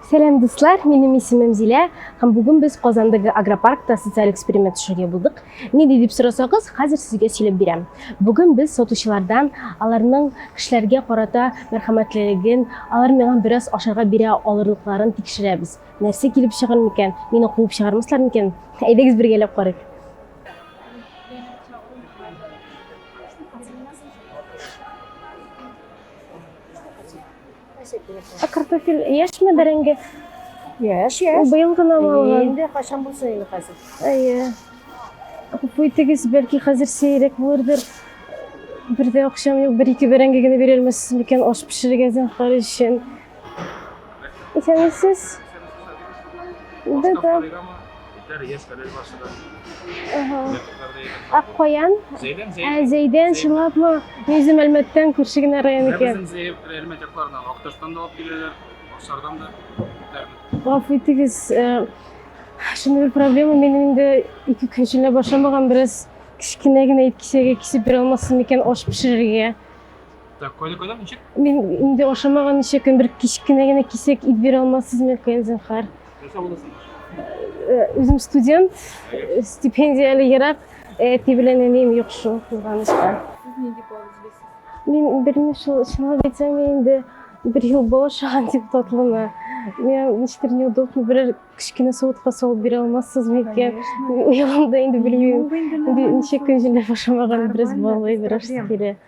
Сәлам дуслар, минем исемем Зилә һәм бүген без Казандагы агропаркта социаль эксперимент төшерергә булдык. Ни дип сорасагыз, хәзер сезгә сөйләп бирәм. Бүген без сатучылардан аларның кешеләргә карата мәрхәмәтлелеген, алар миңа бераз ашарга бирә алырлыкларын тикшерәбез. Нәрсә килеп чыгар микән? Мине куып чыгармаслар микән? Әйдәгез бергәләп карыйк. Ә картофель яшьме бәрәңге? Яшь, яшь. Ул быел гына алган. Инде кайчан булса инде хәзер. Әйе. Гафу итегез, бәлки хәзер сирәк булырдыр. Бердә акчам юк, бер-ике бәрәңге генә бирермесез микән аш пешерергә зинһар өчен? Исәнмесез. Бер тап. Аккоян. Зәйдән, Зәйдән. Зәйдән, чынлапмы? Низим Әлмәттән күрше генә район икән. Безнең Зәйдән Әлмәт якларыннан Акташтан да алып киләләр, Аксардан да. Гафу итегез, шундый бер проблема, минем инде ике көн эчендә башламаган, бераз кечкенә генә ит кисәге кисеп бирә алмассыз микән аш пешерергә? Так, коли коли ничек? Мин инде ашамаган ничә көн бер кечкенә генә кисәк ит бирә алмассызмы икән, зинһар? Нәрсә буласың? Э, Үзем студент, э, стипендияле ерак, э, әти белән әнием юк шул кызганычка. Сез нинди бал эзлисез? Мин берни шул, чынлап әйтсәм, мин инде бер ел бал ашаган дип татлымы. Миңа ничектер неудобно, берәр кечкенә суытка салып бирә алмассызмы икән? Мин Ояламда инде белмим. Инде ничә көн җилләп ашамаган, бераз баллый, бераз кире.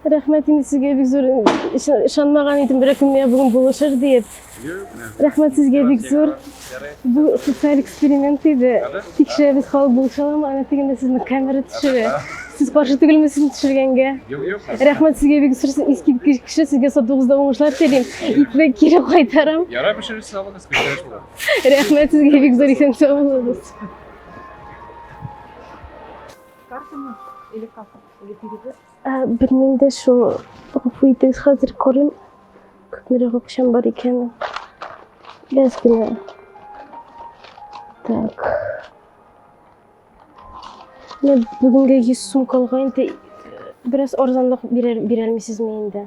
Рәхмәт инде сезгә бик зур. Ышанмаган идем бер көнне бүген булышыр диеп. Рәхмәт сезгә бик зур. Бу социаль эксперимент иде. Тикшерәбез халык булыша аламы, ана дигәндә сезне камера төшерә. Сез каршы түгелме сезне төшергәнгә? Рәхмәт сезгә бик зур. Сез искиткеч кеше. Сезгә сатуыгызда уңышлар телим. Итне кире кайтарам. Ярай пешереп салыгыз, күтәреш була. Рәхмәт сезгә бик зур исән сау булыгыз. Картамы или как? Ә, белмим дә шул. Гафу итегез, хәзер карыйм. Күпмерәк акчам бар икәнен. Без генә. Так. Менә бүгенгә 100 сум калган инде. Бераз арзанлык бирәр, бирәлмисезме инде?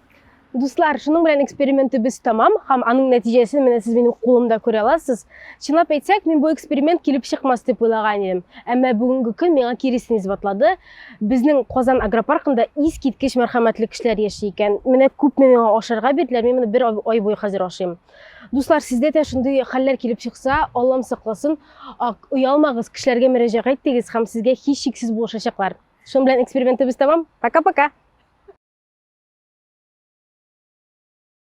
Дуслар, шуның белән экспериментыбыз тамам, һәм аның нәтиҗәсен менә сез минем кулымда күрә аласыз. Чынлап әйтсәк, мин бу эксперимент килеп чыкмас дип уйлаган идем. Әмма бүгенге көн миңа киресен исбатлады. Безнең Казан агропаркында искиткеч мәрхәмәтле кешеләр яши икән. Менә күпме миңа ашарга бирделәр, мин моны бер ай буе хәзер ашыйм. Дуслар, сездә дә шундый хәлләр килеп чыкса, Аллам сакласын, оялмагыз, кешеләргә мөрәҗәгать итегез һәм сезгә һичшиксез булышачаклар. Шуның белән экспериментыбыз тәмам. Пока-пока!